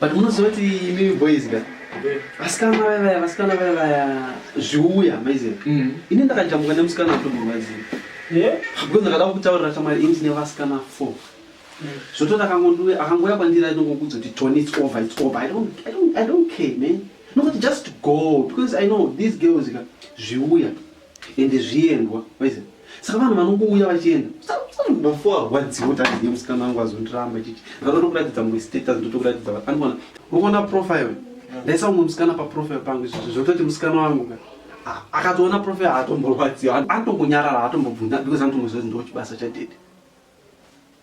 but munoziva kuti imimi boys ka vasikana vaya vaya vasikana vaya vaya zviuya maiziva Mm. ini ndakajambuka nemusikana atomurwadziwa Yeah. because ndakada kutaurira shamwari ini ndine vasikana four zvototi akangondiwe akangouya kwandiri aida kungokudza kuti tony its over its over i don't, I don't, I don't care man nokuti just go because i know these girls ka zviuya ende zviendwa waiza saka vanhu vanongouya vachienda bafo arwadziwo taiziye musikana wangu azondiramba chiti ndakatokuratidza mumwe status ndotokuratidza vanhu andiona unoona profile ndaisa umwe musikana paprofile pangu izvozvo zvototi musikana wangu ka akatoona profile haatomborwadziwa anotongonyarara haatombobvunda because anotomboziva kuti ndochibasa chadede